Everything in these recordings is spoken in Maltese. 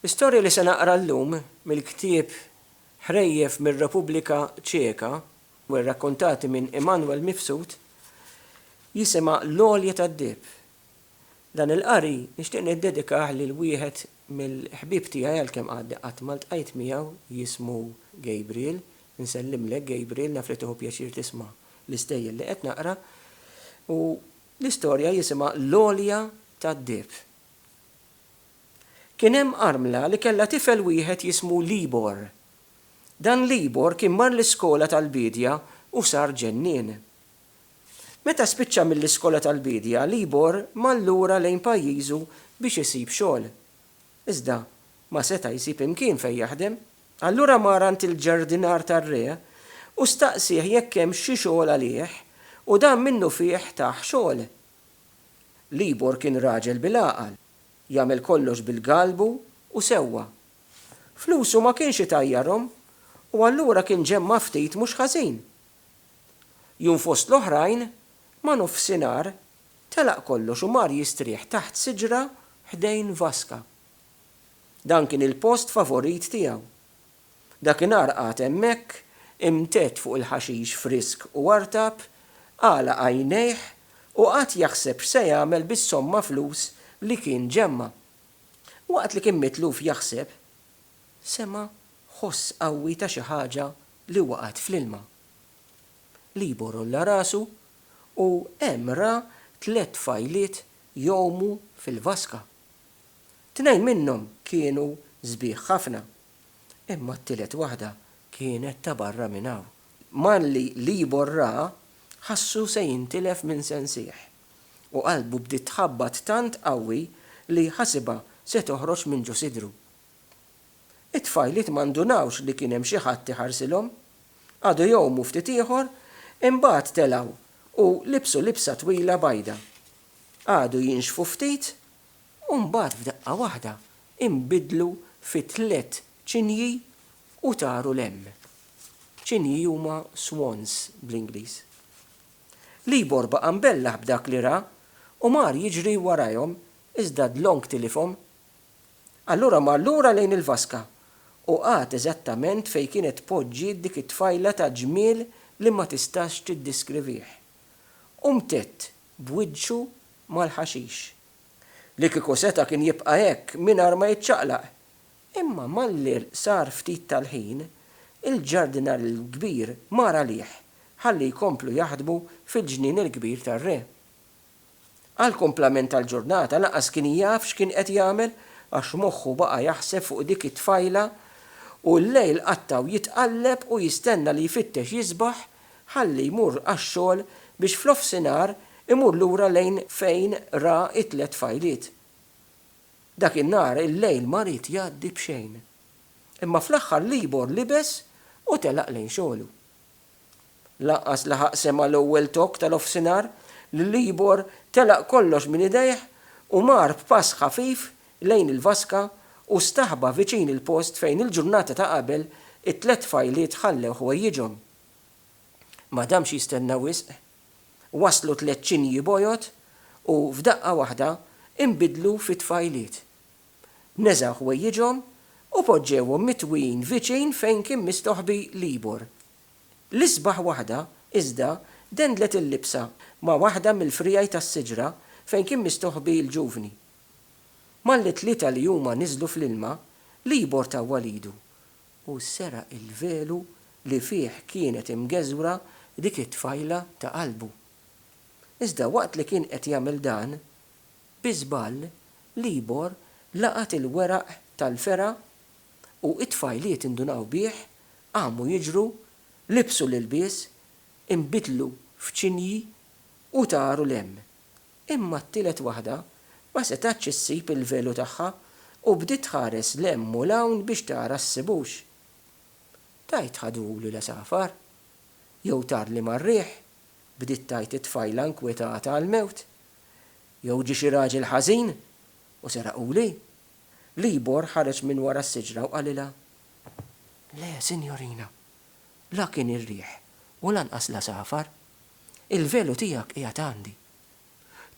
L-istorja li se naqra llum mill-ktieb Ħrejjef mir-Repubblika Ċeka u rrakkontati minn Emanuel Mifsud jisimha L-Għolja tad-Dieb. Dan il-qari nixtieq niddedikah lil wieħed mill-ħbieb tiegħi għalkemm għadni qatt ma ltqajt miegħu jismu Gabriel. Nsellimlek Gabriel naf li tieħu pjaċir tisma' l-istejjer li qed naqra u l-istorja jisimha L-Għolja tad-Dieb. Kien hemm armla li kellha tifel wieħed jismu Libor. Dan Libor kien mar l-iskola tal-biedja u sar ġennien. Meta spiċċa mill-iskola tal-biedja, Libor mar lura lejn pajjiżu biex isib xogħol. Iżda ma seta' jsib imkien fejn jaħdem. Allura mar għand il-ġardinar tar-re u staqsieh jekk hemmx xi xogħol għalih u dan minnufih tah xogħol. Libor kien raġel bil-għaqal, jagħmel kollox bil-galbu u sewwa. Flusu ma kienx itajjarhom u allura kien ġemma' ftit mhux ħażin. Jum fost l-oħrajn, ma' nofsinhar, telaq kollox u mar jistrieħ taħt siġra ħdejn vaska. Dan kien il-post favorit tiegħu. Dakinhar qagħad hemmhekk, imtedd fuq il-ħaxix frisk u artab, għalaq għajnejh u qagħad jaħseb x'se jagħmel bis-somma flus li kien ġemma. Waqt li kien mitluf jaħseb, sema' ħoss qawwi ta' xi ħaġa li waqgħet fl-ilma. Libor għolla rasu u hemm ra tliet tfajliet jgħumu fil-vaska. Tnejn minnhom kienu sbieħ ħafna. imma t-tielet waħda kienet ta' barra minn hawn. Malli Libor raha, ħassu se jintilef minn sensih, u qalbu bdiet tħabbat tant qawwi li ħasibha se toħroġ minn ġo sidru. It-tfajliet ma ndunawx li kien hemm xi ħadd iħarsilhom. Qagħdu jgħumu ftit ieħor, imbagħad telgħu u libsu libsa twila bajda. Qagħdu jinxfu ftit u mbagħad f'daqqa waħda inbidlu fi tliet ċinji u taru 'l hemm. Ċinji huma swans bl-Ingliż. Libor baqa' mbellah b'dak li ra u mar jiġri warajhom iżda dlonk tilifhom. Allura mar lura lejn il-vaska u qagħad eżattament fejn kienet poġġiet dik it-tfajla ta' ġmiel li ma tistax tiddiskrivih. U mtedd b'wiċċu mal-ħaxix. Li kieku seta' kien jibqa' hekk mingħajr ma jiċċaqlaq. Imma malli sar ftit tal-ħin, il-ġardinar il-kbir mar għalih ħalli jkomplu jaħdmu fil-ġnien il-kbir tar-re. Għall-kumplament tal-ġurnata lanqas kien jaf x'kien qed jagħmel għax moħħu baqa' jaħseb fuq dik it-tfajla u l-lejl qattgħu jitqalleb u jistenna li jfittex jisbaħ ħalli jmur għax-xogħol biex f'nofsinhar imur lura lejn fejn ra t-tliet fajliet. Dak in-nhar il-lejl ma ried jgħaddi b'xejn. Imma fl-aħħar Libor libes u telaq lejn xogħlu. Lanqas laħaq sema' l-ewwel tokk ta' nofsinhar li Libor telaq kollox minn idejh u mar b'pass ħafif lejn il-vaska u staħba viċin il-post fejn il-ġurnata ta' qabel it-tliet tfajliet ħallew ħwejjiġhom. Ma damx jistenna wisq. Waslu tliet ċinji bojod u, f'daqqa waħda, inbidlu fi tfajliet. Neżgħu ħwejjiġhom u poġġewhom mitwin viċin fejn kien mistoħbi Libor. L-isbaħ waħda, iżda, dendlet il-libsa ma' waħda mill-friegħi tas-siġra fejn kien mistoħbi l-ġuvni. Malli t-tlieta li huma niżlu fl-ilma, Libor tawwal idu u sera' l-velu li fih kienet imgeżwra dik it-tfajla ta' qalbu. Iżda waqt li kien qed jagħmel dan, bi żball Libor laqat il-weraq tal-fergħa u t-tfajliet indunaw bih, qamu jiġru, libsu l-ilbies, inbidlu f'ċinji u taru 'l hemm. Imma t-tielet waħda ma setgħetx issib il-velu tagħha u bdiet tħares 'l hemm u 'l hawn biex tara ssibux. Tgħid ħadu lil għasafar? Jew tarli mar-riħ? bdiet tgħid it-tfajla nkwetata għall-mewt. Jew ġie xi raġel ħażin u seraqhuli? Libor ħareġ minn wara s-siġra u qalilha, Le, sinjorina, la kien ir-riħ u lanqas l-għasafar. Il-velu tiegħek qiegħed għandi.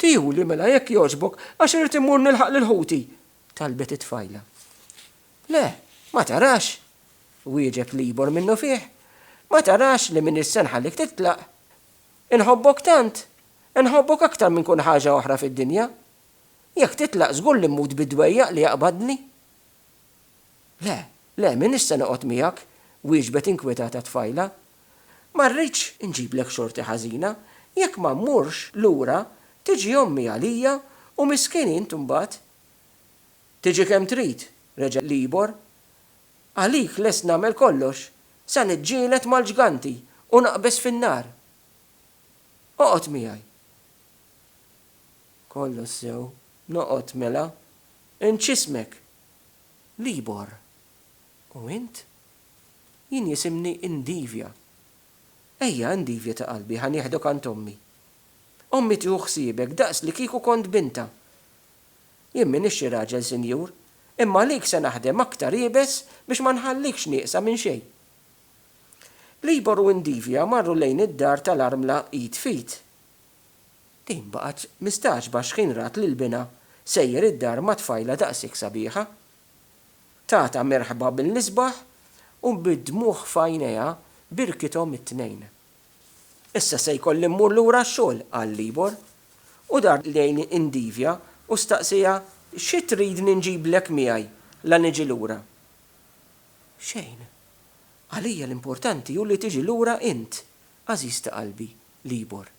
Tihuli mela jekk jogħġbok għax irrid immur nilħaq lil ħuti, talbet it-tfajla. Le, ma tarax, wieġeb Libor minnufih. Ma tarax li m'iniex se nħallik titlaq? Inħobbok tant! Inħobbok aktar minn kull ħaġa oħra fid-dinja. Jekk titlaq żgur li mmut bid-dwejjaq li jaqbadni. Le, le, m'iniex se noqgħod miegħek, wieġbet inkwetata t-tfajla. Ma rridx inġiblek xorti ħażina. Jekk ma mmurx lura, tiġi ommi għalija u miskin int imbagħad. Tiġi kemm trid, reġa' Libor. Għalik lest nagħmel kollox, sa niġġieled mal-ġganti u naqbeż fin-nar. Oqgħod miegħi. Kollox sew, noqgħod mela. Inġ ismek, Libor, U int? Jien jisimni Indivia. Ejja, Indivia ta' qalbi, ħa nieħduk għand ommi. Ommi tieħu ħsiebek daqs li kieku kont bintha. Jien m'iniex raġel, sinjur, imma għalik se naħdem aktar iebes biex ma nħallikx nieqsa minn xejn. Libor u Indivia marru lejn id-dar tal-armla id f'id. Din baqgħet mistagħġba x'ħin rat lil binha sejjer id-dar ma' tfajla daqshekk sabiħa. Tatha merħba mill-isbaħ u bid-dmugħ f'għajnejha birkithom it-tnejn. Issa se jkolli mmur lura għax-xogħol, qal Libor, u dar lejn Indivia u staqsieha xi tridni nġiblek miegħi la niġi lura. Xejn. Għalija l-importanti hu li tiġi lura int, għażiż ta' qalbi, Libor.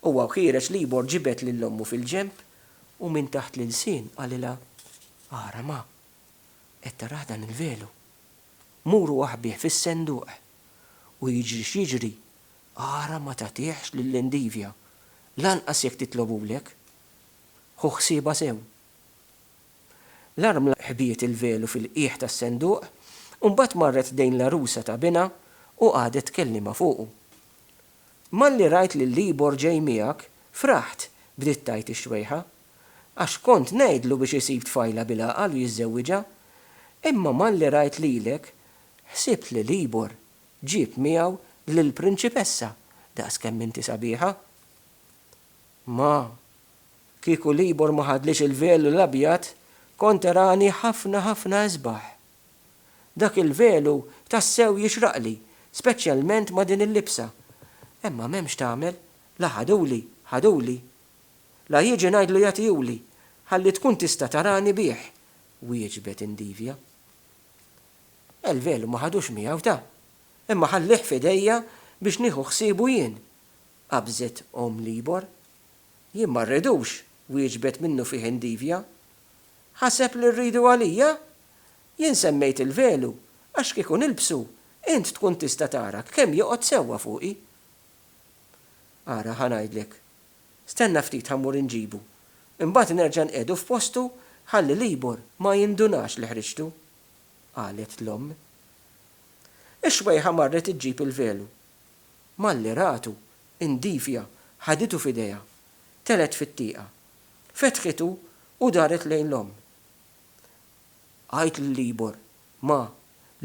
Huwa wħiereġ Libor ġibed lil ommu fil-ġenb u minn taħt l-ilsien qalilha, Ara ma! Qed tarah dan il-velu? Mur u aħbih fis-senduq, u jiġri x'jiġri, ara ma tagħtihx lil Endivia, lanqas jekk titlobhulek. Ħu ħsiebha sew. L-armla ħbiet il-velu fil-qiegħ tas-senduq u mbagħad marret ħdejn l-għarusa ta' binha u qagħdet tkellimha fuqu. Malli rajt lil Libor ġej miegħek, fraħt, bdiet tgħid ix-xwejħa. Għax kont ngħidlu biex isib tfajla bil-għaqal u jiżżewwiġha. Imma malli rajt lilek, ħsibt li Libor ġieb miegħu lill-prinċipessa daqskemm inti sabiħa. Ma. Kieku Libor ma ħadlix il-velu l-abjad, kont erani ħafna ħafna isbaħ. Dak il-velu tassew jixraqli, speċjalment ma' din il-libsa. Imma m'hemmx tagħmel, la ħaduli, ħaduli. La jiġi ngħidlu jagħtihuli, ħalli tkun tista' tarani bih, wieġbet Indivia. Il-velu ma ħadux miegħu ta, imma ħallieh f'idejja biex nieħu ħsiebu jien. qabżet omm l-ibor. Jien ma rridux, wieġbet minnufih Indivia. Ħaseb li rridu għalija? Jien semmejt il-velu għax kieku nilbsu int tkun tista' tarak kemm joqgħod sewwa fuqi. Ara ħa ngħidlek. Stenna ftit ħa mmur inġibu. Imbagħad nerġa' nqiegħdu f'postu ħalli l-ibor ma jindunax li ħriġtu, qalet l-omm. Ix-xwejħa marret iġġib il-velu. Malli ratu, indifja, ħaditu f'idejha. Telgħet fit-tieqa. Fetħitu u daret lejn l-omm. Għidt lil Ibor, Ma,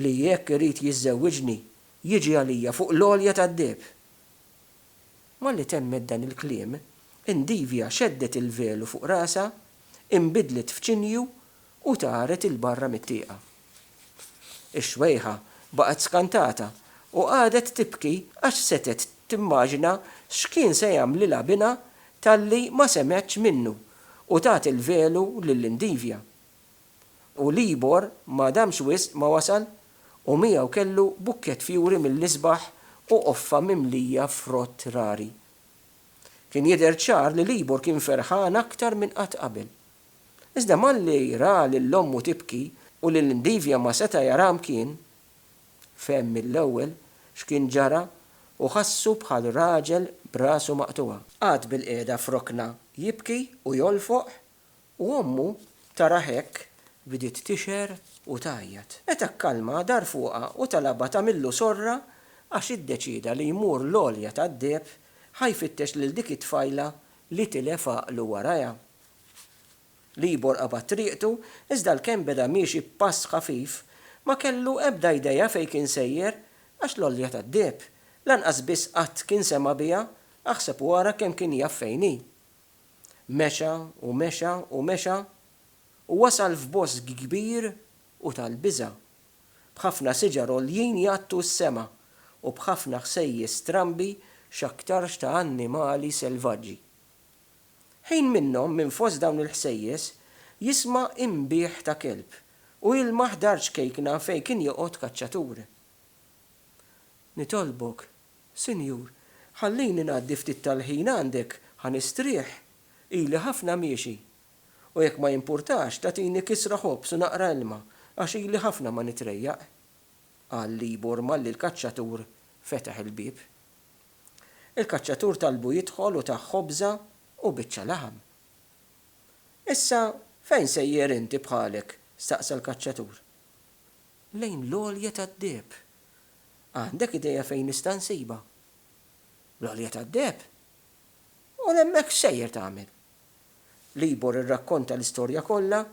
li jekk irid jiżżewwiġni, jiġi għalija fuq l-għolja tad-deheb. Malli temmet dan il-kliem, indifja xeddet il-velu fuq rasha, inbidlet f'ċinju u taret 'il barra mit-tieqa. Ix-xwejħa baqgħet skantata u qagħdet tibki għax setgħet timmaġina x'kien se jagħmlilha binha talli ma semgħetx minnu u tat il-velu lil Indivia. U Libor ma damx wisq ma wasal u miegħu kellu bukkett fjuri mill-isbaħ u qoffa mimlija frott rari. Kien jidher ċar li Libor kien ferħan aktar minn qatt qabel. Iżda malli ra lil ommu tibki u lil Ndivja ma seta' jaraha mkien, fehem mill-ewwel x'kien ġara u ħassu bħal raġel b'rasu maqtugħa. Qagħad bilqiegħda f'rokna jibki u jolfoq u ommu tarah hekk bdiet tixher u tgħajjat. Meta kkalma dar fuqha u talabha tagħmillu sorra għax iddeċieda li jmur l-għolja tad-deheb ħa jfittex lil dik it-tfajla li tilef għaqlu warajha. Libor qabad triqtu, iżda l-kemm beda miexi b'pass ħafif, ma kellu ebda idea fejn kien sejjer, għax l-għolja tad-deheb, lanqas biss qatt kien sema' biha, aħseb u ara kemm kien jaf fejn hi. Mexa u mexa u mexa, u wasal f'bosk kbir u tal-biża', b'ħafna siġar għoljin jgħattu s-sema u b'ħafna ħsejjes strambi x'aktarx ta' annimali selvaġġi. Ħin minnhom minn fost dawn il-ħsejjes jisma' inbih ta' kelb u jilmaħ dar ċkejkna fejn kien joqgħod kaċċatur. Nitolbok, Sinjur, ħallini ngħaddi ftit tal-ħin għandek ħa nistrieħ, ili ħafna miexi. U jekk ma jimpurtax tagħtini kisra ħobż u naqra ilma għax ili ħafna ma nitrejjaq. Qal Libor malli l-kaċċatur fetaħ il-bieb. Il-kaċċatur talbu jidħol u tah ħobża u biċċa laħam. Issa fejn sejjer inti bħalek? staqsa l-kaċċatur. Lejn l-għolja tad-deheb. Għandek idea fejn nista' nsibha? L-għolja tad-deheb? U hemmhekk x'sejjer tagħmel? Libor irrakkonta l-istorja kollha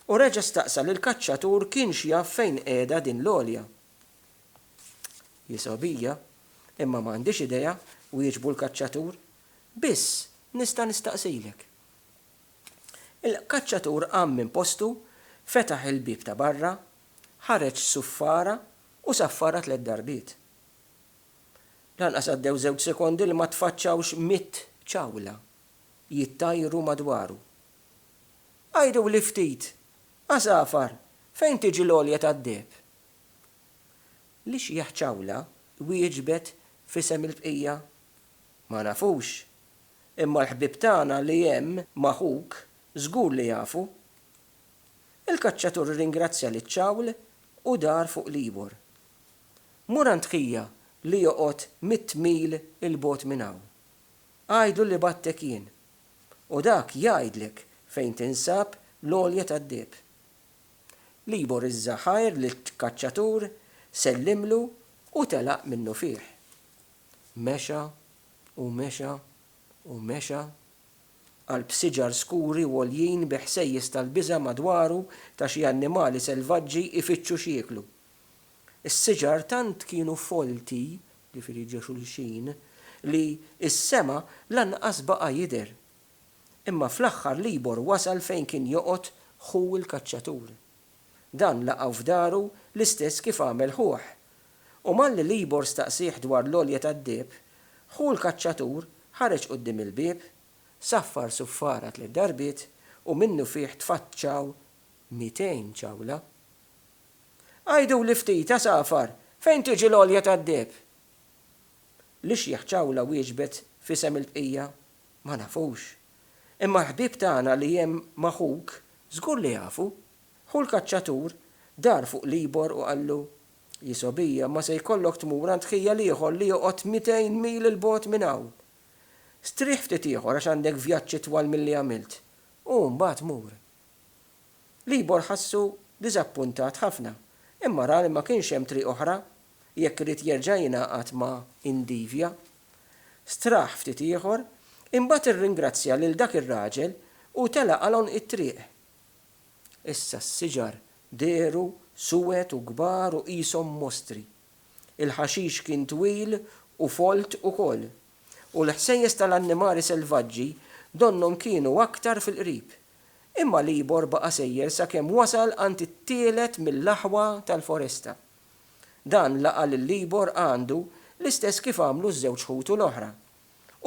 u reġa' staqsa lill-kaċċatur kienx jaf fejn qiegħda din l-għolja. Hi sabiħja, imma ma għandhiex idea, wieġbu l-kaċċatur. Biss, nista' nistaqsilek. Il-kaċċatur qam minn postu, fetaħ il-bieb ta' barra, ħareġ suffara u saffara tliet darbiet. Lanqas għaddew żewġ sekondi li ma tfaċċawx mitt ċawla jittajru madwaru. Għiduli ftit, għasafar, fejn tiġi l-għolja tad-deheb? L-ixjieħ Ciawla wieġbet f'isem il-bqija, Ma nafux, imma l-ħbieb tagħna li hemm ma' ħuk żgur li jafu. Il-kaċċatur irringrazzja lil Ciawl u dar fuq l-Ibor. Mur għand ħija li joqgħod mitt mil 'il bogħod minn hawn. Għidlu li bgħattek jien. U dak jgħidlek fejn tinsab l-għolja tad-deheb. Libor iż-żagħħajr lit-kaċċatur, sellimlu u telaq minnufih. Mexa u mexa u mexa. Qalb siġar skuri u għoljin bi ħsejjes tal-biża' madwaru ta' xi annimali selvaġġi jfittxu x'jieklu. Is-siġar tant kienu folti, jiġifieri ġo xulxin, li s-sema lanqas baqa' jidher. Imma fl-aħħar Libor wasal fejn kien joqgħod ħu l-kaċċatur. Dan laqgħu f'daru l-istess kif għamel ħuh. U malli Libor staqsieh dwar l-għolja tad-deheb, ħu l-kaċċatur ħareġ quddiem il-bieb, saffar suffara tliet darbiet u minnufih tfaċċaw mitejn ċawla. Għiduli ftit, għasafar, fejn tiġi l-għolja tad-deheb? L-ixjeħ Ċawla wieġbet f'isem il-bqija, Ma nafux. Imma l-ħbieb tagħna li hemm ma' ħuk żgur li jafu. Ħu l-kaċċatur dar fuq l-Ibor u qallu, Jisobija, ma se jkollok tmur għand ħija l-ieħor li joqgħod mitejn mil 'il bogħod minn hawn. Strieħ ftit ieħor għax għandek vjaġġ itwal milli għamilt, u mbagħad mur. Libor ħassu diżappuntat ħafna, imma ra li ma kienx hemm triq oħra jekk irid jerġa' jingħaqad ma' Indivia. Straħ ftit ieħor, imbagħad irringrazzja lil dak ir-raġel u tela' għal għonq it-triq. Issa s-siġar dehru suwed u kbar u qishom mostri. Il-ħaxix kien twil u folt ukoll. U l-ħsejjes tal-annimali selvaġġi donnhom kienu aktar fil-qrib. Imma l-ibor baqa' sejjer sakemm wasal għand it-tielet mill-aħwa tal-foresta. Dan laqa' lill-ibor għandu l-istess kif għamlu ż-żewġ ħutu l-oħra.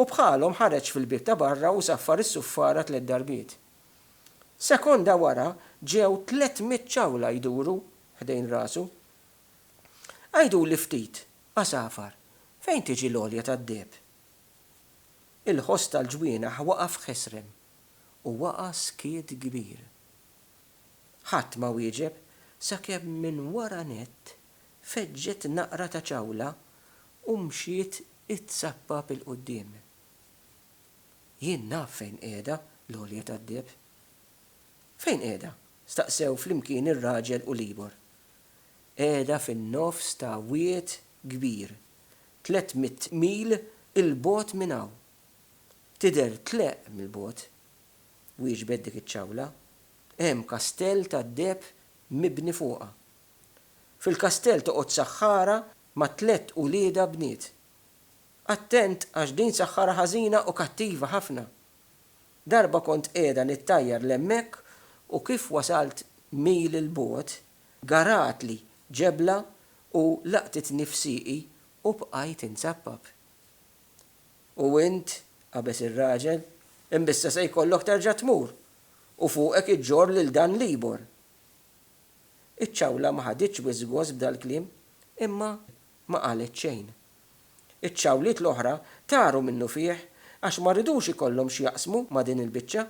U bħalhom ħareġ fil-bieb ta' barra u saffar is-suffara tliet darbiet. Sekonda wara ġew tliet mitt ċawla jduru ħdejn rasu. Għiduli ftit, għasafar, fejn tiġi l-għolja tad-deheb? Il-ħoss tal-ġwienaħ waqa' f'ħesrem. u waqa' skiet kbir. Ħadd ma wieġeb sakemm minn wara nett feġġet naqra ta' ċawla u mxiet itzappap 'il quddiem. Jien naf fejn qiegħda l-għolja tad-deheb. Fejn qiegħda? staqsew flimkien ir-raġel u l-ieħor. Qiegħda fin-nofs ta' wied kbir, tliet mitt mil 'il bogħod minn hawn, Tidher tleqq mill-bogħod, wieġbet dik iċ-ċawla. Hemm kastell tad-deheb mibni fuqha. Fil-kastell toqgħod saħħara ma' tlett uliedha bniet. Attent għax din saħħara ħażina u kattiva ħafna. Darba kont qiegħda nittajjar 'l hemmhekk u kif wasalt mil 'l bogħod, garatli ġebla u laqtitni f'sieqi u bqajt inzappap. U int, qabeż ir-raġel, imbissa se jkollok terġa' tmur, u fuqek iġġorr lil dan l-ibor. Iċ-ċawla ma ħaditx wisq gost b'dal-kliem, imma ma qalet xejn. Iċ-ċawliet l-oħra taru minnufih għax ma ridux ikollhom x'jaqsmu ma' din il-biċċa.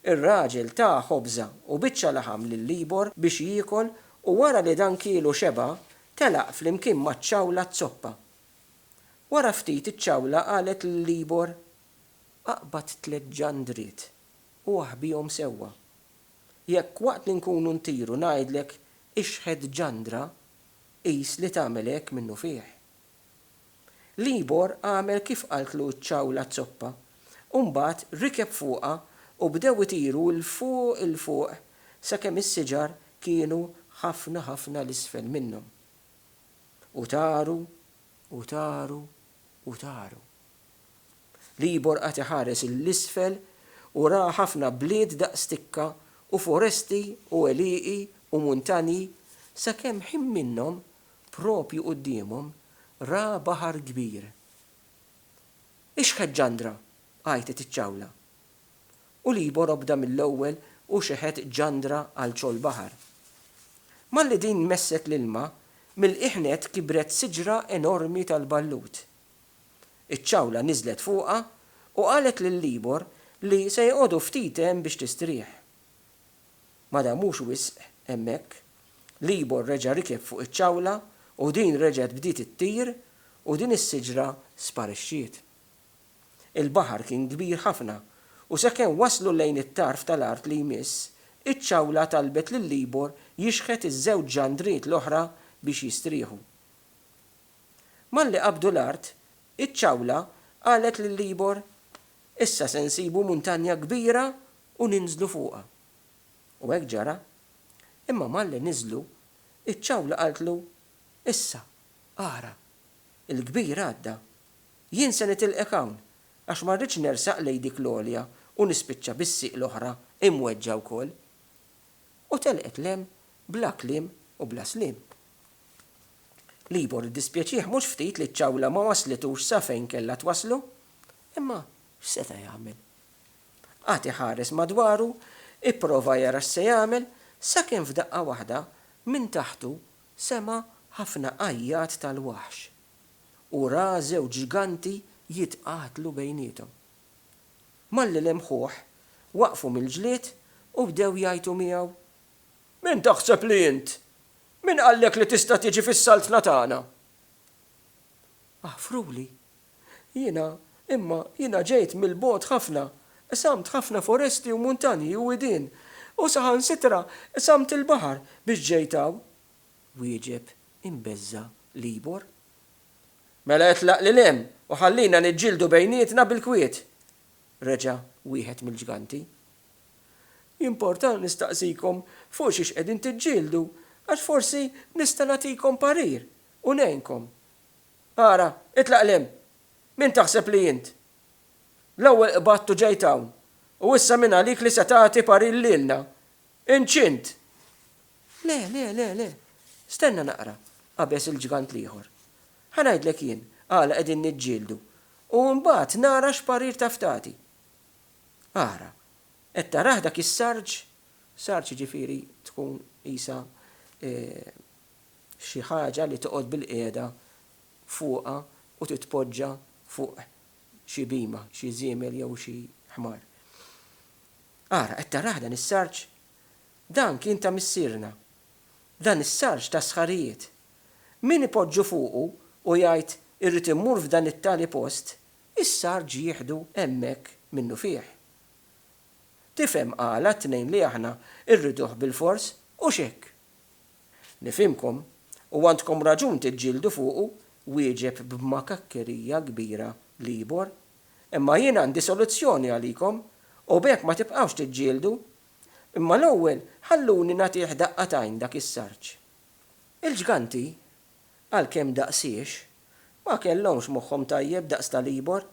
Ir-raġel ta ħobża u biċċa laħam lill-ibor biex jiekol u wara li dan kielu xeba' telaq flimkien maċ-ċawla z-zoppa. Wara ftit iċ-ċawla qalet lill-ibor, Aqbad tliet ġandriet u aħbihom sewwa. Jekk waqt li nkunu ntiru ngħidlek ixħet ġandra, qis li tagħmel hekk minnufih. L-ibor għamel kif qaltlu ċ-ċawla zzoppa u mbagħad rikeb fuqha u bdew itiru 'l fuq 'il fuq sakemm is-siġar kienu ħafna ħafna 'l isfel minnhom. U taru, u taru, u taru. Libor qagħad iħares 'l isfel u ra ħafna bliet daqs tikka u foresti u għelieqi u muntanji sakemm ħin minnhom, proprju quddiemhom, ra baħar kbir. Ix-xħeġġandra! għajtet iċ-ċawla. u Libor obda mill-ewwel u xeħet ġandra għal ċoll baħar. Malli din messet l-ilma, mill-qiegħ nett kibret siġra enormi tal-ballut. Iċ-ċawla niżlet fuqha u qalet lil Libor li se joqogħdu ftit hemm biex tistrieħ. Ma damux wisq hemmhekk, Libor reġa' rikeb fuq iċ-ċawla u din reġgħet bdiet ittir u din is-siġra sparixxiet. Il-baħar kien kbir ħafna, u sakemm waslu lejn it-tarf tal-art li jmiss, iċ-ċawla talbet lil Libor jixħet iż-żewġ ġandriet l-oħra biex jistrieħu. Malli qabdu l-art, iċ-ċawla qalet lil Libor, Issa se nsibu muntanja kbira u ninżlu fuqha. U hekk ġara. Imma malli niżlu, iċ-ċawla qaltlu, Issa, ara, il-kbir għadda Jien se nitilqek hawn, għax ma rridx nersaq lejn dik l-għolja u nispiċċa bis-sieq l-oħra imweġġa' wkoll. U telqet 'l hemm bla kliem u bla sliem. Libor iddispjaċih mhux ftit li ċ-ċawla ma wasslitux sa fejn kellha twasslu, imma x'seta' jagħmel? Qagħad iħares madwaru, ipprova jara x'se jagħmel, sakemm f'daqqa waħda, minn taħtu sema' ħafna għajjat tal-waħx. u ra żewġ ġganti jitqatlu bejniethom. Malli lemħuh, waqfu mill-ġlied u bdew jgħajtu miegħu, Min taħseb li int? Min qallek li tista' tiġi fis-saltna tagħna? Aħfruli, jiena, imma jiena ġejt mill-bogħod ħafna, qsamt ħafna foresti u muntanji u widien, u saħansitra qsamt il-baħar biex ġejt hawn. wieġeb imbeżża' Libor. Mela itlaq lil hemm u ħallina niġġieldu bejnietna bil-kwiet! reġa' wieħed mill-ġganti. Jimporta nistaqsikom fuq xiex qegħdin tiġġieldu għax forsi nista' nagħtikom parir u ngħinkom. Ara, itlaq 'l hemm! Min taħseb li int? L-ewwel qbadt u ġejt hawn, u issa min għalik li se tagħti parir lilna? Inċint! Le, le, le, le. Stenna naqra, qabeż il-ġgant l-ieħor. Ħa ngħidlek jien għala qegħdin niġġieldu u mbagħad nara x'parir taf tagħti. Ara, qed tarah dak is-sarġ? Sarġ jiġifieri tkun qisha xi ħaġa li toqgħod bilqiegħda fuqha u titpoġġa fuq xi bhima, xi żiemel jew xi ħmar. Ara, qed tarah dan is-sarġ? Dan kien ta' missierna. Dan is-sarġ ta' sħarijiet. Min ipoġġu fuqu u jgħid, 'Irrid immur f'dan it-tali post', is-sarġ jieħdu hemmhekk minnufih. Tifhem għala t-tnejn li aħna rriduh bilfors? Hux hekk? Nifhimkom, u għandkom raġun tiġġieldu fuqu, wieġeb b'makakkerija kbira Libor, Imma jien għandi soluzzjoni għalikom, u b'hekk ma tibqgħux tiġġieldu. Imma l-ewwel ħalluni nagħtih daqqa t'għajn dak is-sarġ. Il-ġganti, għalkemm daqsiex, ma kellhomx moħħhom tajjeb daqs ta' Libor,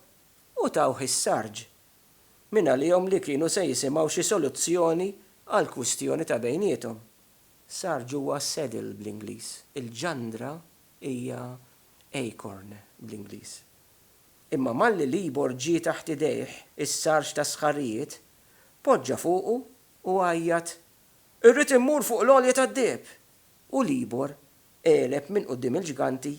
u tawh is-sarġ. Mingħalihom li kienu se jisimgħu xi soluzzjoni għall-kwistjoni ta' bejniethom. Sarġ huwa saddle bl-Ingliż. Il-ġandra hija acorn bl-Ingliż. Imma malli Libor ġie taħt idejh is-sarġ tas-sħarijiet, poġġa fuqu u għajjat, Irrid immur fuq l-għolja tad-deheb! U Libor għeleb minn quddiem il-ġganti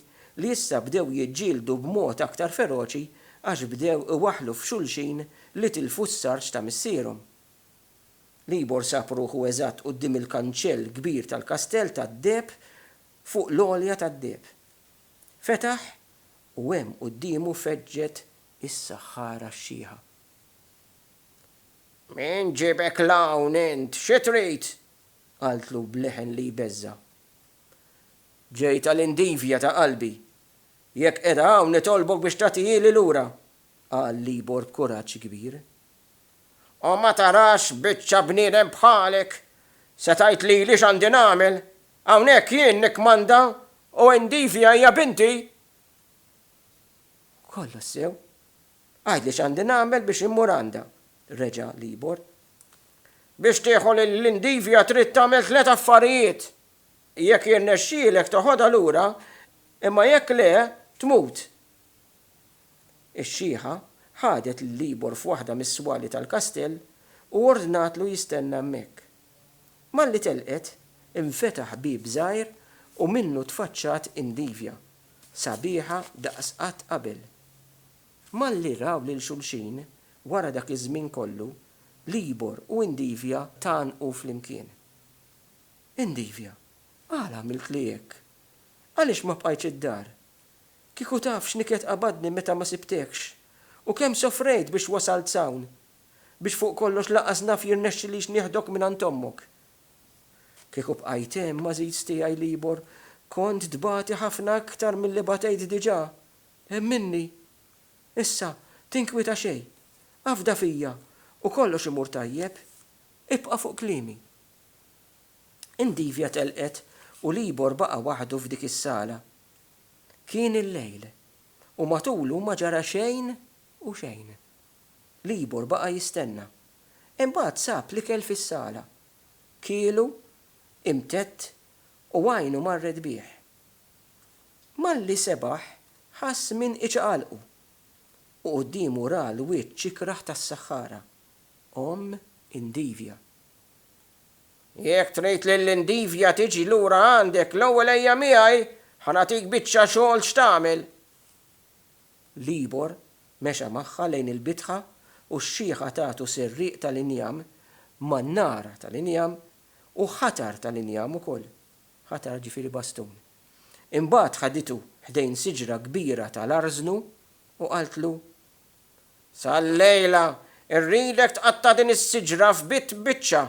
li issa bdew jiġġieldu b'mod aktar feroċi għax bdew iwaħħlu f'xulxin li tilfu s-sarġ ta' missierhom. Libor sab ruħu eżatt quddiem il-kanċell kbir tal-kastell tad-deheb fuq l-għolja tad-deheb. Fetaħ u hemm quddiemu feġġet is-saħħara xxiħa. Min ġiebek 'l hawn int, xi trid? qaltlu b'leħen li jbeżża'. Ġejt għal Indivja ta' qalbi. Jekk qiegħda hawn nitolbok biex tagħtihieli lura, qal Libor b'kuraġġ kbir. O ma tarax biċċa bniedem bħalek! Se tgħid lili x'għandi nagħmel? Hawnhekk jien nikkmanda u Indivia hija binti! Kollox sew. Għidli x'għandi nagħmel biex immur għandha, reġa' Libor. Biex tieħu lil Indivia trid tagħmel tliet affarijiet. Jekk jirnexxielek toħodha lura, imma jekk le, tmut. Ix-xiħa ħadet lil Libor f'waħda mis-swali tal-kastell u ordnatlu jistenna hemmhekk. Malli telqet, infetaħ bieb żgħir u minnu tfaċċat Indivja, sabiħa daqs qatt qabel. Malli raw lil xulxin wara dak iż-żmien kollu, Libor u Indivja tgħannqu flimkien. Indivja, għala għamiltli hekk? Għaliex ma bqajtx id-dar? Kieku taf x'niklet qabadni meta ma sibtekx, u kemm sofrejt biex wasalt s'hawn, biex fuq kollox laqas naf jirnexxilix nieħdok mingħand ommok. Kieku bqajt hemm, għażiż tiegħi Libor, kont tbati ħafna aktar milli batejt diġà. Emminni. Issa, tinkwieta xejn. Afda fija, u kollox imur tajjeb. Ibqa' fuq kliemi. Indivja telqet, u Libor baqa' waħdu f'dik is-sala. Kien il-lejl, u matulu ma ġara xejn u xejn. Libor baqa' jistenna. Imbagħad sab l-ikel fis-sala. Kielu, imtedd, u għajnu marret bih. Malli sebaħ ħass min iċaqalqu, u quddiemu ra l-wiċċ ikrah tas-saħħara, omm Indivia. Jekk trid li l-indivja tiġi lura għandek, l-ewwel ejja miegħi, ħa nagħtik biċċa xogħol x'tagħmel. Libor mexa magħha lejn il-bitħa u x-xiħa tatu serrieq tal-injam ma' nara tal-injam u ħatar tal-injam ukoll, ħatar ġifieri bastun. Imbagħad ħaditu ħdejn siġra kbira tal-arżnu u qaltlu, Sal-lejla rridek tqatta' din is-siġra f'bitt biċċa.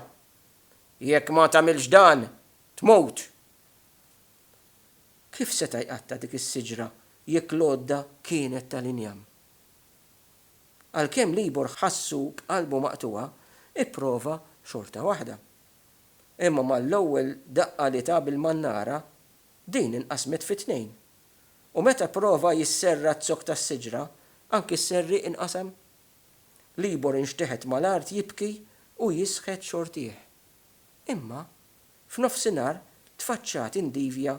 Jekk ma tagħmilx dan, tmut. Kif seta' jqatta' dik is-siġra jekk l-għodda kienet tal-injam? Għalkemm Libor ħassu b'qalbu maqtugħa, ipprova xorta waħda. Imma mal-ewwel daqqa li ta bil-mannara, din inqasmet fi tnejn. U meta pprova jisserra z-zokk tas-siġra, anki s-serrieq inqasam. Libor inxteħet mal-art jibki u jisħet xortih. Imma, f'nofsinhar tfaċċat indivja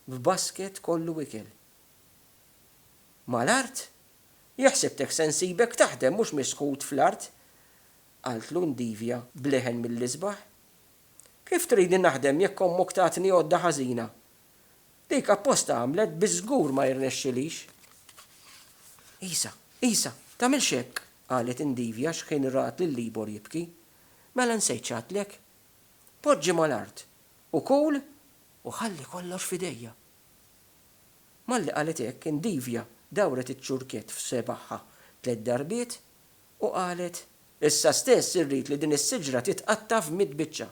b'basket kollu ikel. Mal-art? Jaħsibtek se nsibek taħdem mhux misħut fl-art! qaltlu indivja b'leħen mill-isbaħ. Kif tridni naħdem jekk ommok tatni għodda ħażina? Dik apposta għamlet biex żgur ma jirnexxilix. Isa, Isa, tagħmilx hekk, qalet indivja xħin rat lil Libor jibki. Mela nsejt x'għadtlek. Poġġi mal-art u kul u ħalli kollox f'idejja. Malli qalet hekk, indivja dawret iċ-ċurkett f'sebgħha tliet darbiet u qalet. Issa stess irrid li din is-siġra titqatta' f'mitt biċċa.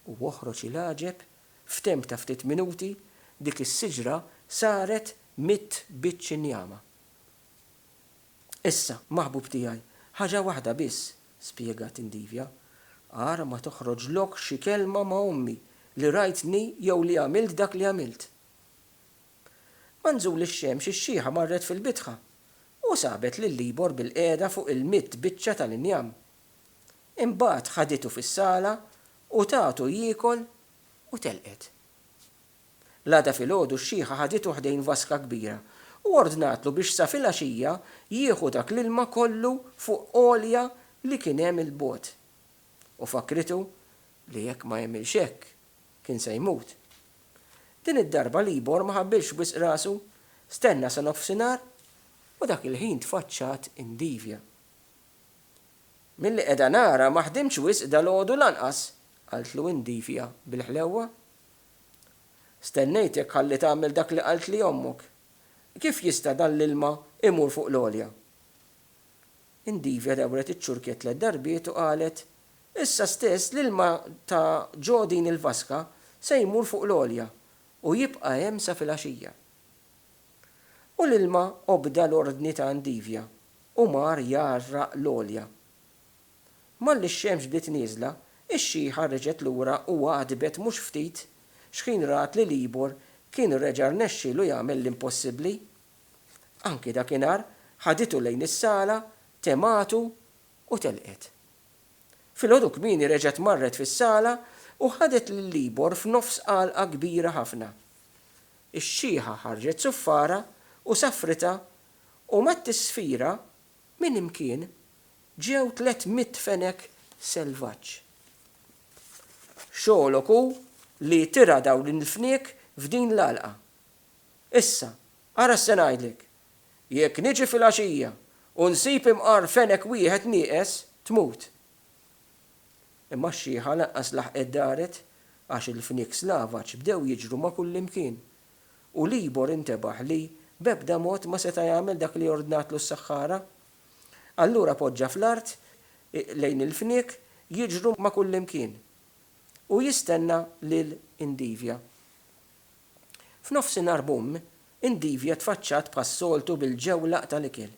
U oħroġ il-għaġeb, f'temp ta' ftit minuti, dik is-siġra saret mitt biċċ injama. Issa, maħbub tiegħi, ħaġa waħda biss, spjegat Indivia, Agħar ma toħroġlok xi kelma ma' ommi li rajtni jew li għamilt dak li għamilt. Ma' nżul ix-xemx ix-xiħa marret fil-bitħa u sabet lil Libor bilqiegħda fuq il-mitt biċċa tal-injam Imbagħad ħaditu fis-sala u tatu jiekol u telqet. L-għada filgħodu x-xiħa ħaditu ħdejn vaska kbira u ordnatlu biex sa filgħaxija jieħu dak l-ilma kollu fuq għolja li kien hemm 'il bogħod. U fakkritu li jekk ma jagħmilx hekk kien se jmut. Din id-darba Libor ma ħabbilx wisq rasu, stenna sa nofsinhar u dak il-ħin tfaċċat indivja. Milli qiegħda nara ma ħdimtx wisq dalgħodu lanqas, qaltlu Indifia bil-ħlewwa. Stennejtek ħalli tagħmel dak li qaltli ommok. Kif jista' dan l-ilma imur fuq l-għolja? Indifia dawret iċ-ċurkiet tliet darbiet u qalet, Issa stess l-ilma ta' ġo din il-vaska se jmur fuq l-għolja u jibqa' hemm sa fil-għaxija. U l-ilma obda l-ordni ta' Indifia U mar jgħarraq l-għolja. Malli x-xemx bdiet nieżla, ix-xieħa reġgħet lura u għadbet mhux ftit xħin rat li Libor kien reġa' rnexxielu jagħmel l-impossibbli. Anki dakinhar ħaditu lejn is-sala, tematu u telqet. Filgħodu kmieni reġgħet marret fis-sala u ħadet lil Libor f'nofs għalqa kbira ħafna. Ix-xieħa ħarġet suffara u safritha u mat-tisfira minn imkien ġew tliet mitt fenek selvaġġ. Xogħlok hu li tira' dawn il-fniek f'din l-għalqa. Issa, ara x'se ngħidlek, jekk niġi filgħaxija u nsib imqar fenek wieħed nieqes, tmut. Imma x-xiħa lanqas laħqet daret għax il-fniek slavaġġ bdew jiġru ma' kullimkien U Libor intebaħ li b'ebda mod ma seta' jagħmel dak li ordnatlu s-saħħara. Allura poġġa fl-art, lejn il-fniek, jiġru ma' kullimkien. U jistenna lil Indivia. F'nofsinhar bumm, Indivia tfaċċat bħas-soltu bil-ġewlaq tal-ikel.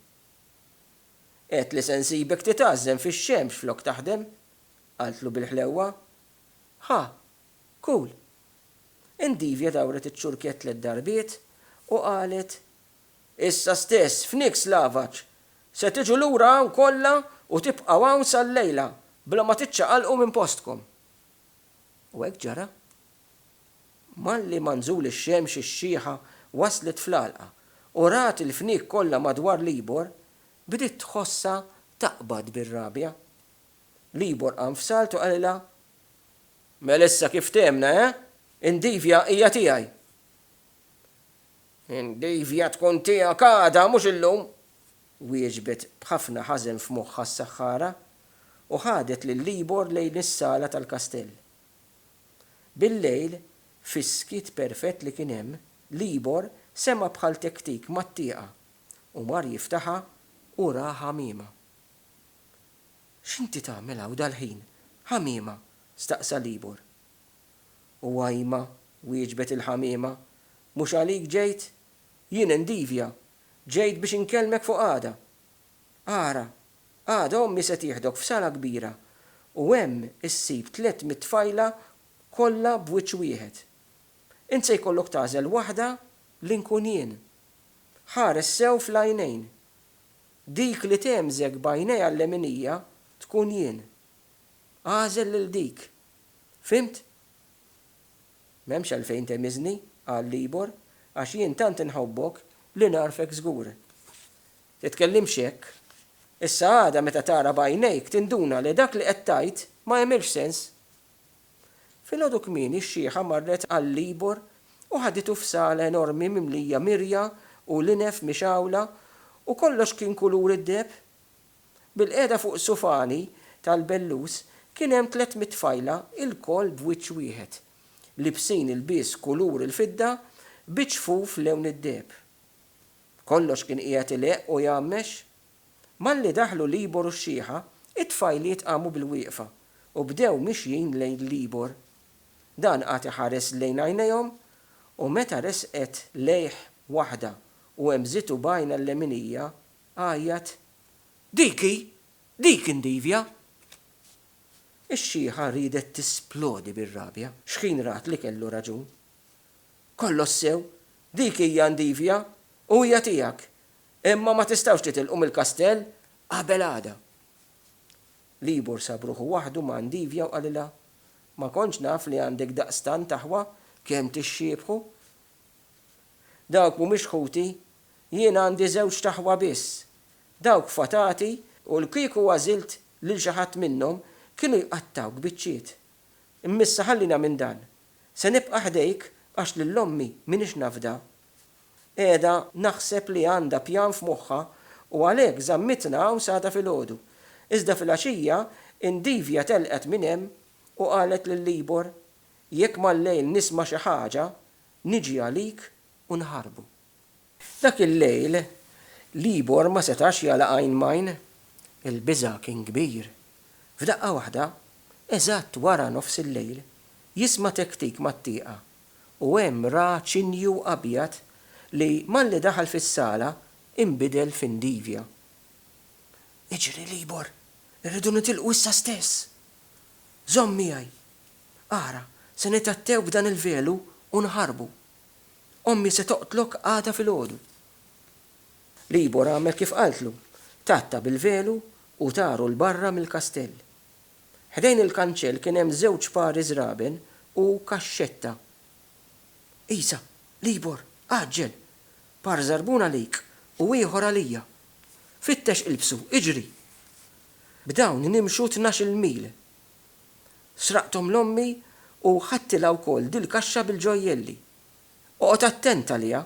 Għedt li se nsibek titgħażżen fix-xemx flok taħdem, qaltlu bil-ħlewwa. Ħa, Cool. Endivia dawret iċ-ċurkett tliet darbiet u qalet, Issa stess, f'Nick's Lavaġ! Se tiġu lura hawn kollha u tibqgħu hawn sal-lejla bla ma tiċċaqalqu minn postkom! U hekk ġara. Malli ma nżul ix-xemx ix-xiħa waslet fl-għalqa u rat il-fniek kollha madwar Libor, bdiet tħossha taqbad bir-rabja. Libor qam f'salt u qalilha, Mela issa kif fthimna, eh? Indivia hija tiegħi. Indivia tkun tiegħek għada, mhux illum! wieġbet b'ħafna ħażen f'moħħha s-saħħara, u ħadet lil Libor lejn is-sala tal-kastell. Bil-lejl, fis-skiet perfett li kien hemm, Libor sema' bħal tektik mat-tieqa, u mar jiftaħha u ra ħamiema. X'inti tagħmel hawn dal-ħin, ħamiema? staqsa Libor. U Għajma, wieġbet il-ħamiema, mhux għalik ġejt? Jien Endivja, ġejt biex inkellmek fuq għada. Ara, għada ommi se tieħdok f'sala kbira u hemm issib tliet mit-tfajla kollha b'wiċċ wieħed. Int se jkollok tagħżel waħda li nkun jien. Ħares sew fl-għajnejn. Dik li tgħemżek b'għajnejha l-leminija tkun jien. Agħżel lil dik. Fhimt? M'hemmx għalfejn tegħmiżni, qal Libor, għax jien tant inħobbok li nagħrfek żgur. Titkellimx hekk. Issa għada meta tara b'għajnejk tinduna li dak li qed tgħid ma jagħmilx sens. Filgħodu kmieni x-xiħa marret għall-Libor u ħaditu f'sala enormi mimlija mirja u linef mixgħula u kollox kien kulur id-deheb. Bilqiegħda fuq sufani tal-bellus kien hemm tliet mitt tfajla ilkoll b'wiċċ wieħed, liebsin ilbies kulur il-fidda biċ-ċfuf lewn id-deheb. Kollox kien qiegħed ileqq u jgħammex. Malli daħlu l-Ibor u x-Xieħa, it-tfajliet qamu bilwieqfa u bdew mixjin lejn l-Ibor. Dan qagħad iħares lejn għajnejhom u meta resqet lejh waħda u hemżitu b'għajnha l-leminija, għajjat, Dik hi! Dik indivja! Ix-Xieħa riedet tisplodi bir-rabja xħin rat li kellu raġun. Kollox sew, dik hija indivja u hija tiegħek! Imma ma tistgħux titilqu mill-kastell qabel għada. Libor sab ruħu waħdu ma' Ndivja u qalilha, Ma kontx naf li għandek daqstant aħwa kemm tixxiebħu. Dawk mhumiex ħuti, jien għandi żewġt aħwa biss. Dawk fatati u l kieku għażilt lil xi ħadd minnhom kienu jqattgħuk biċċiet. Immissa ħallina minn dan. Se nibqa' ħdejk għax lil ommi m'iniex nafda Qiegħda naħseb li għandha pjan f'moħħha u għalhekk żammitna hawn s'għada filgħodu. Iżda filgħaxija Indivia telqet minn hemm u qalet lil Libor, Jekk mal-lejl nisma' xi ħaġa, niġi għalik u nħarbu. Dak il-lejl Libor ma setax jagħlaq għajn m'għajn. Il-biża' kien kbir. F'daqqa waħda, eżatt wara nofs il-lejl, jisma' tektik mat-tieqa u hemm ra ċinju abjad li malli daħal fis-sala inbidel fi ndivja. Iġri, Libor! Irridu nitilqu issa stess! Żomm miegħi! Ara, se nitgħattew b'dan il-velu u nħarbu. Ommi se toqtlok għada filgħodu. Libor għamel kif qaltlu, tgħatta bil-velu u taru 'l barra mill-kastell. Ħdejn il-kanċell kien hemm żewġ pari żraben u kaxxetta. Isa, Libor, għaġġel! Par żarbun għalik u ieħor għalija. Fittex ilbsu, iġri! B'dawn nimxu tnax-il mil. Sraqthom 'l ommi u ħadtilha wkoll dil-kaxxa bil-ġojjelli. Oqgħod attent għaliha,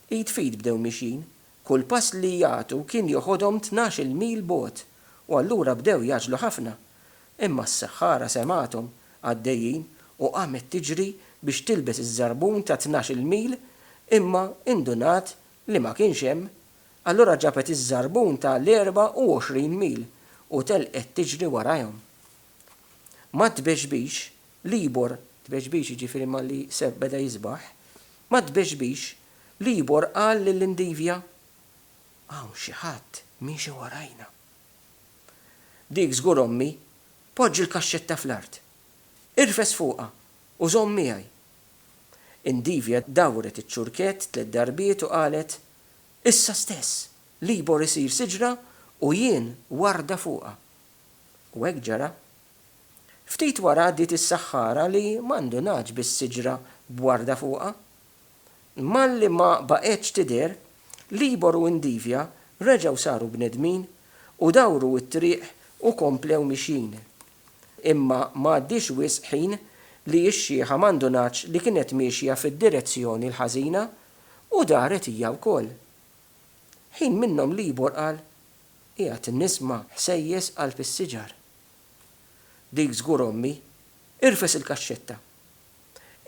Id f'id bdew mixjin. Kull pass li jagħtu kien joħodhom tnax-il mil bogħod u allura bdew jgħaġġlu ħafna. Imma s-saħħara semgħathom għaddejjin u qamet tiġri biex tilbes iż-żarbun ta' tnax-il mil imma indunat li ma kienx hemm. Allura ġabet iż-żarbun ta' l-erba' u għoxrin mil u telqet tiġri warajhom. Mat-tbexbix Libor, tbeġbix, jiġifieri malli Seb beda jisbaħ, mat-tbeġbix, Libor qal lill-indivja, Hawn xi ħadd miexi warajna. Dik żgur ommi, poġġi l-kaxxetta fl-art. Irfes fuqha u żomm miegħi. Indivja dawret iċ-ċurkett tliet darbiet u qalet, Issa stess, Libor isir siġra u jien warda fuqha. U hekk ġara Ftit wara għaddiet is-saħħara li ma ndunatx bis-siġra b'warda fuqha. Malli ma baqgħetx tidher, Libor u Indivia reġgħu saru bnedmin u dawru t-triq u komplew mixjin. Imma ma għaddiex wisq ħin li x-xiħa ma ndunatx li kienet miexja fid-direzzjoni l-ħażina u daret hija wkoll. Ħin minnhom Libor qal, Qiegħed nisma' ħsejjes qalb is-siġar. Dik żgur ommi. Irfes il-kaxxetta.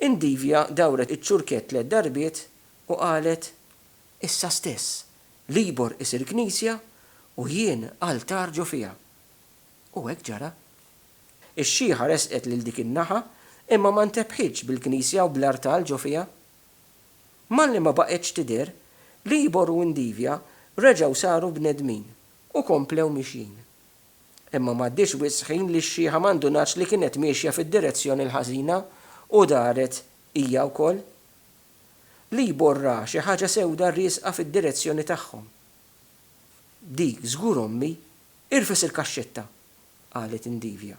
Indivia dawret iċ-ċurkett tliet darbiet u qalet, Issa stess, Libor isir knisja u jien altar ġo fiha. U hekk ġara. Ix-xiħa resqet lil dik in-naħa imma ma ntebħitx bil-knisja u bl-artal ġo fiha. Malli ma baqgħetx tidher, Libor u Indivia reġgħu saru bnedmin u komplew mixjin. Imma m'għaddiex wisq ħin li x-xiħa ma ndunatx li kienet miexja fid-direzzjoni l-ħażina u daret hija wkoll. L-ibor ra xi ħaġa sewda riesqa fid-direzzjoni tagħhom. Dik żgur ommi, irfes il-kaxxetta! qalet Indivia.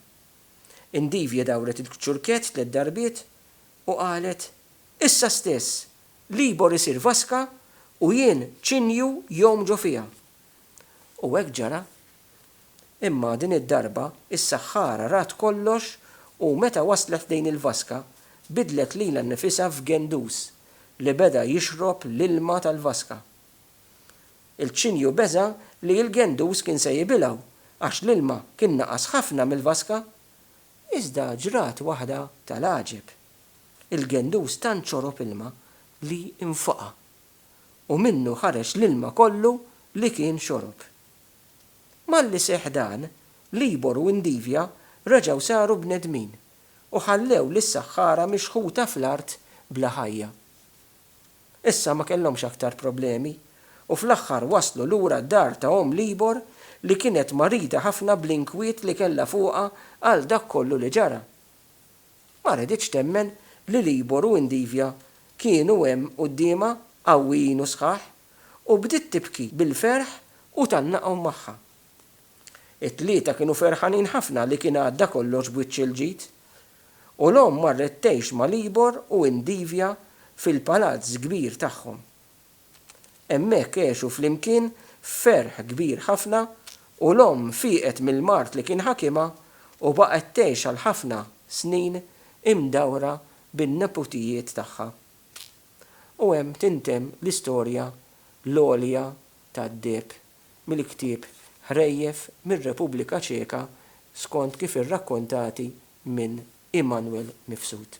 Indivia dawret il-kċurkett tliet darbiet u qalet, Issa stess! L-ibor isir vaska u jien ċinju jgħum ġo fiha. U hekk ġara. Imma din id-darba is-saħħara rat kollox u meta waslet lejn il-vaska, bidlet lilha nnifisha f'gendus li beda jixrob l-ilma tal-vaska. Il-ċinju beża' li l-gendus kien se jibilgħu għax l-ilma kien naqas ħafna mill-vaska. Iżda ġrat waħda tal-għaġeb. Il-gendus tant xorob ilma li nfoqa'. u minnu ħareġ l-ilma kollu li kien xorob. Malli seħħ dan, Libor u Indivja reġgħu saru bnedmin u ħallew lis-saħħara mixħuta fl-art bla ħajja. Issa ma kellhomx aktar problemi u fl-aħħar waslu lura d-dar ta' omm Libor li kienet marida ħafna bl-inkwiet li kellha fuqha għal dak kollu li ġara. Ma reditx temmen li Libor u Indivia kienu hemm quddiemha qawwijin u sħaħ, u bdiet tibki bil-ferħ u tgħannaqhom magħha. It-tlieta kienu ferħanin ħafna li kien għadda kollox b'wiċċ il-ġid. U l-omm marret tgħix ma' Libor u Indivia fil-palazz kbir tagħhom. Hemmhekk għexu flimkien f'ferħ kbir ħafna u l-omm fieqet mill-mard li kien ħakimha u baqgħet tgħix għal ħafna snin imdawra bin-neputijiet tagħha. U hemm tintemm l-istorja l-għolja tad-deheb mill-ktieb Ħrejjef mir-Repubblika Ċeka skont kif irrakkontati minn Immanuel Mifsud.